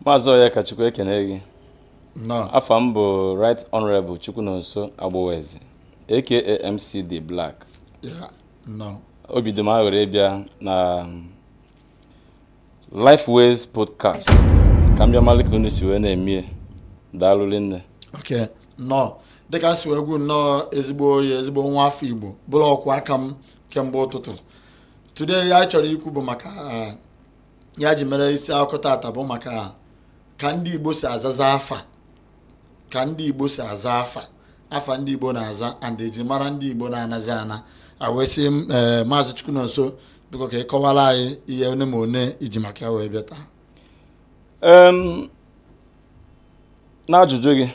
maazị Onyekachukwu ekene gị afa m bụ right honorable Chukwunonso Agboweze aka MCD Black obi dị m aṅụrị ịbịa na um, Lifeways podcast ka m bịa malụ ka unu si wee na-emie daalụ rinne okay nnọọ dịka m si wee gwu nnọọ ezigbo onye ezigbo nwa afọ igbo bụrụ ọkwụ aka m kemgbe ụtụtụ today ihe a chọrọ ikwu bụ maka uh, ya ji mere isi akụkọ taata bụ maka ka ndị Igbo si azaza afa ka ndị Igbo si aza afa afa ndị Igbo na-aza and eji mara ndị Igbo na-anazi ana a wee sị eh, maazị Chukwunonso biko ka ị kọwara anyị ihe one ma one i ji maka ya wee bịa taa n'ajụjụ gị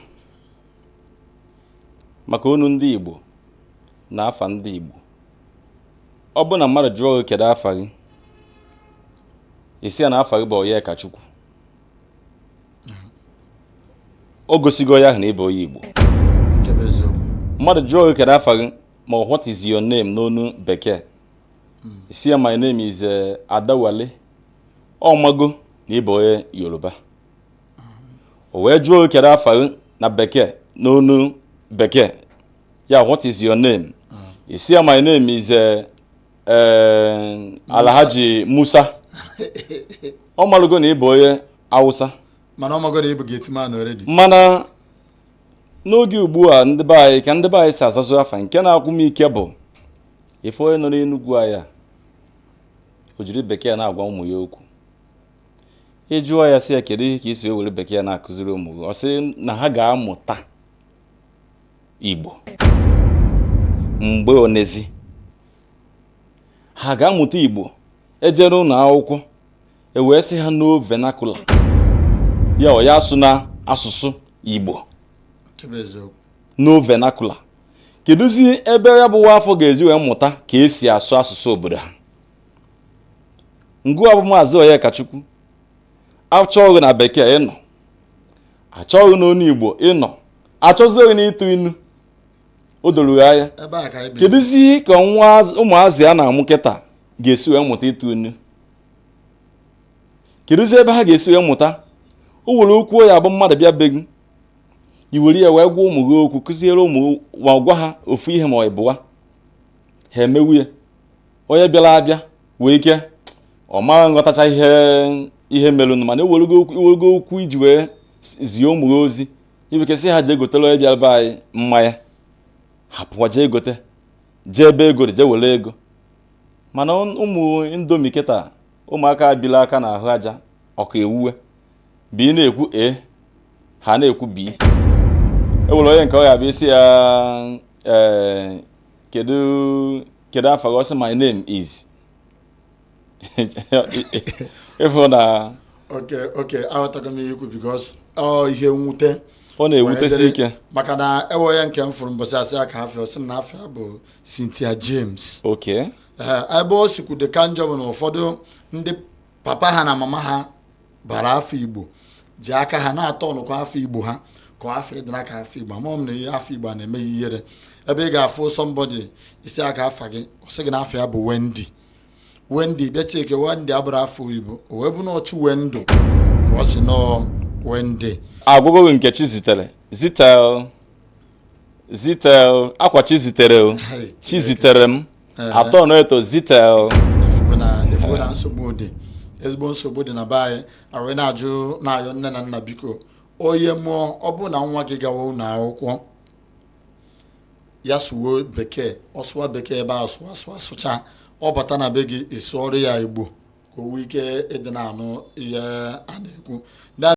maka onu ndị Igbo na afa ndị Igbo ọ bụrụ na mmadụ jụọ gị kedu afa gị ị sị ya na afa gị bụ Onyekachukwu o gosigo onye ahụ na ị bụ onye Igbo mmadụ jụọ gị kedu afa gị ma what is your name n'onu bekee ị sị ya my name is eh, Adewale ọ mago na ị bụ onye Yoruba o wee jụọ gị kedu afa gị na bekee n'onu bekee Yeah, what is your name? Mm. Ị sị ya my name is uh, uh, Alhaji Musa. Ọ malụgo na ị bụ onye Awụsa. Mana ọ mago na ị bụ gateman already. Mana n'oge ugbu a ndị be anyị ka ndị be anyị si azazị afa nke na-agwụ m ike bụ ịfụ onye nọ n'Enugwu anya o jiri bekee na-agwa ụmụ ya okwu ị jụọ ya sị ya kedu ihe ka i si ewere bekee na-akụziri ụmụ gị ọ sị na ha ga-amụta Igbo mgbe onezi ha ga-amụta Igbo ejere ụlọ akwụkwọ ewee sị ha no vernacular ya onye asụna asụsụ Igbo n'ọ vernacular kedụzi ebe ya bụ nwa afụ ga-eji wee mụta ka e si asụ asụsụ obodo ha ngịwa bụ maazị Onyekachukwu a chọọ gị na bekee ị nọ a chọọ gị n'onu Igbo ị nọ a chọzie gị na ịtụ inu o doro ya anya ebe a ka anyị bi kedụzi ihe ka nwa az- ụmụazị a na-amụ kịta ga-esi wee mụta ịtụ inu kedụzi ebe ha ga-esi wee mụta o nwere okwu ya bụ mmadụ bịa be gị i were ya wee gwa ụmụ gị okwu kụziere ụmụ gị ma gwa ha ofu ihe ma ọ ịbụa ha emewe ya onye bịara abịa nwee ike ọ ma aghọtacha ihe ihe merụnụ mana i werego okwu i werego okwu iji wee zie ụmụ gị ozi i nwee ike sị ha jee gotere onye bịara be anyị mmanya ha pụwa jee gote jee ebe ego dị jee were ego mana ụmụ indomie kịta ụmụaka bila aka na ahụ aja ọka ewuwe bi na-ekwu e ha na-ekwu bi e nwere onye nke ọ ga-abịa ị sị ya ee eh, kedu kedu afa gị ọ sị my name is ịfụ na okay okay aghọtago m ihe i kwu because ọ ihe mwute ọ na-ewutesi ike maka na e nwe onye nke m fụrụ mbọchị a sị ya kee afa ya ọ sị m na afa ya bụ Cynthia James okay ebe o sikwu dị ka njọ bụ na ụfọdụ ndị papa ha na mama ha bara afa igbo ji aka ha na-aturnkwa afa igbo ha ka afa adịna ka afa igbo amarọ m na ihe afa igbo a na-eme ha ihere ebe ị ga-afụ somebody ị sị ya kee afa gị ọ sị gị na afa ya bụ Wendy Wendy bịa checkie Wendy abụrụ afa igbo o wee bụ na ọ Chinwendu ka ọ sị na ọ Wendy a gụgo nke Chizitere zitel zitel ọkwa Chizitere ọ Chiziterem a turn ya into zitel ị fụgo na nsogbu dị ezigbo nsogbu dị na be anyị a wee na-ajụ na-ayọ nne na nna biko onye mụọ ọ bụrụ na nwa gị gawa ụlọ akwụkwọ ya sụwa bekee ọ sụwa bekee ebe a sụwa sụwa sụcha ọ bata na be gị ị sụọrọ ya igbo ka o nwee ike ịdị na-anụ ihe a na-ekwu